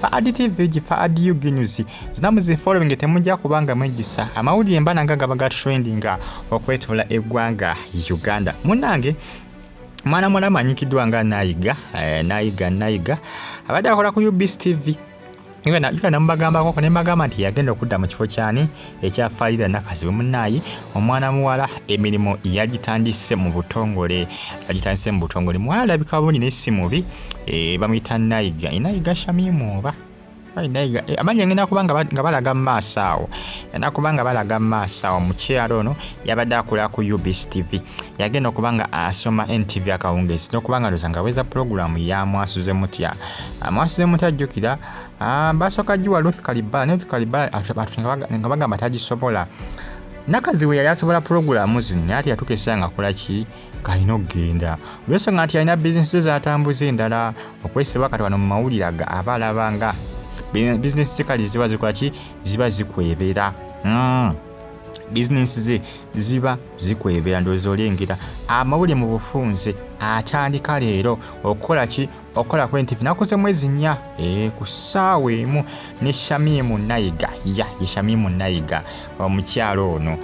fa adtv gi fa adu ginyuzi zinamu zi following temujja kubanga mwejusa amawulire mba nanga gaba ga trendinga okwetula eggwanga uganda munange mwana mwana amanyikiddwa nga nayiga eh, nayiga nayiga abadde akola ku ubs tv namubagambako ne mbagamba nti yagenda okudda mu kifo kyani ekya Faida Nakazibwe munaaye omwana muwala emirimu yagitandise mu butongole yagitandise mu butongole muwala alabika bulungi naye si mubi e, bamuyita Naiga Naiga Shamimu oba eh, amanya ngenda kuba nga balaga mu maaso awo yenda kuba nga balaga mu maaso awo mukyalo ono yabadde akola ku UBC TV yagenda okuba nga asoma NTV akawungeezi n'okuba nga ndoza nga weza pulogulaamu yamwasuze mutya amwasuze mutya jjukira Ah, basooka giwa ruth kalibala ne ruth kalibala nga bagamba tagisobola nakaziwe yali asobola pulogulaamu zino naye ati yatuuka esaa nga akola ki kalina okugenda olwensonga nti alina bizinesi ze zatambuza endala okwesibwa kati wano mu mawulire aga aba alaba nga bizinesi ze kali ziba zikola ki ziba zikwebera hmm. bizinesi ze ziba zikwebera ndowooza olengera amawulire mu bufunze atandika leero okukola ki okukola ku NTV nakoze mwezi nnya eh, ku ssaawa emu ne Shamimu Nayiga ya ye Shamimu Nayiga omukyalo ono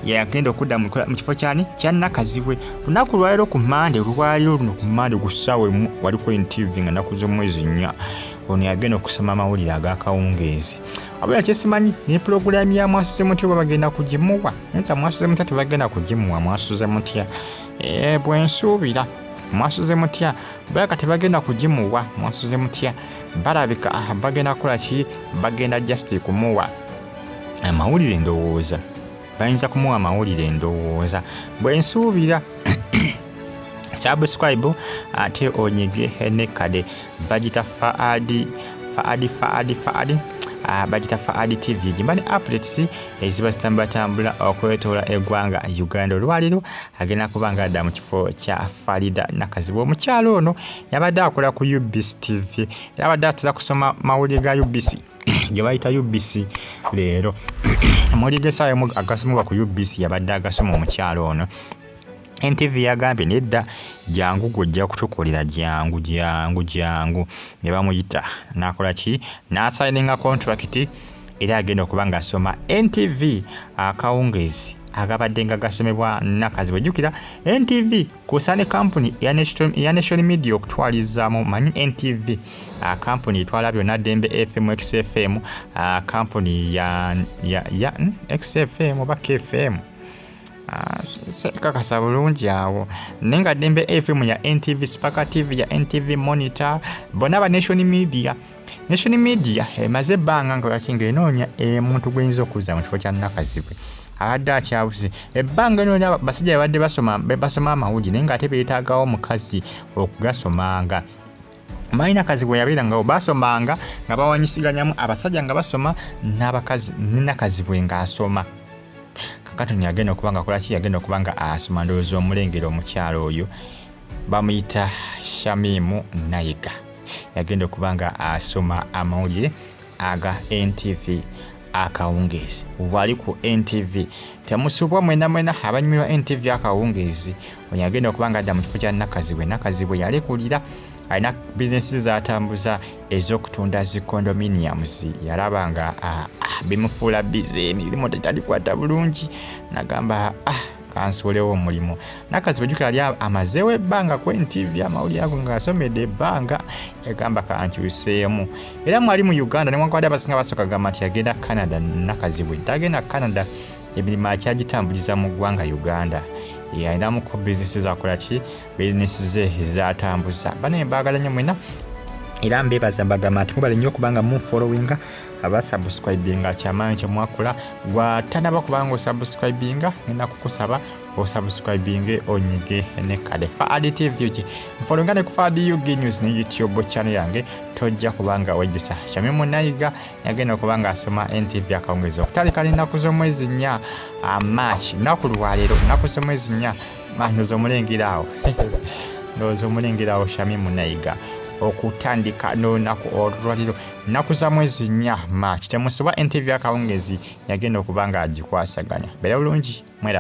yagenda okudda mu kifo kyani kya Nakazibwe lunaku lwaliro ku Mande olwaliro luno ku Mande ku ssaawa emu wali ku NTV nga nakoze mwezi nnya ono yagenda okusoma amawulire ag'akawungeezi abula kyesimanyi ne pulogulaamu ya mwasuze mutya oba bagenda kugimuwa nza mwasuze mutya tebagenda kugimuwa mwasuze mutya eh, bwensuubira mwasuze mutya balaka tebagenda kugimuwa munsuze mutya balabika ah, bagenda kukola ki bagenda just kumuwa amawulire endowooza bayinza kumuwa amawulire endowooza bwensuubira subscribe ate onyige nekade bagita faadi faadi faadi faadi ah, bagita faadi tv gimani updates eziba zitambulatambula okwetoola eggwanga uganda olwaliro agenda kuba nga adda mu kifo kya farida nakazibwa omukyalo ono yabadde akola ku ubc tv era abadde atera kusoma mawulire ga ubc gye bayita ubc leero amawulire gesaawa emu agasomebwa ku ubc yabadde agasoma omukyalo ono ntv yagambye nedda jangu gwojja kutukolera jangu jangu jangu ne bamuyita nakola ki nasayininga kontrakiti era agenda okuba ng'asoma ntv akawungeezi agabadde nga gasomebwa nakazi wejjukira ntv kusa ne kampuni ya national media okutwalizaamu manyi ntv ah, kampuni etwala byonna dembe fm xfm ah, kampuni ya hmm, xfm oba kfm Ah, kakasa bulungi awo naye nga dembe fm ya ntv spaka tv ya ntv monitor bona ba nation media Nation Media emaze eh, ebbanga nga lwaki ng'enoonya omuntu eh, gw'eyinza okuzza mu kifo kya Nakazibwe abadde akyabuze ebbanga lino lya basajja babadde basoma basoma amawulire naye ng'ate beetaagawo omukazi okugasomanga malina kazi bwe yabeera nga basomanga nga bawanyisiganyamu abasajja nga basoma n'abakazi ninakazi bwe ng'asoma kakatoni yagenda okuba nga akolaki yagenda okuba nga asoma ndowooza omulengera omukyalo oyo bamuyita shamimu nayiga yagenda okuba nga asoma amawulire aga ntv akawungeezi wali ku ntv temusubwa mwena mwena abanyumirwa ntv akawungeezi oyo agenda okuba nga adda mu kifo kya nakazibwe nakazibwe yalekulira alina bizinesi zatambuza ez'okutunda zi condominiums yalaba nga ah, ah, bimufuula bize emirimu tetalikwata bulungi nagamba ah, kansuulewo omulimu nakaziba jukira ali amazeewo ebbanga ku ntv amawulire ago ngaasomedde ebbanga yagamba kankyuseemu era mwali mu uganda newankubadde abasinga basooka gamba nti yagenda canada nakazibwe tagenda canada emirimu akyagitambuliza mu ggwanga uganda alinamuko bizinesi zakola ki bizinesi ze zatambuza banaye mbagala nyo mwena era mbebaza mbagamba nti mubale nyo okubanga munfollowinga abasubscribinga kyamanyi kyemwakola gwatanaba kubanga osubscribinga ngenda kukusaba osubscribinge onyige ne kale faadi tv ki mfolonga ne ku faadi ug news ne youtube channel yange tojja kubanga wejjusa kyami munayiga yagenda okuba nga asoma ntv akawungeezi okutandika n'ennaku z'omwezi nnya ah, march nnaku lwaleero nnaku z'omwezi nnya ah, ndoza omulengera awo ndoza omulengera awo shami munayiga okutandika n'olunaku olwaliro Nnaku za mwezi nnya, March, temusiba entevi akawungezi yagenda okuba ng'agikwasaganya. Beera bulungi. Mweraba.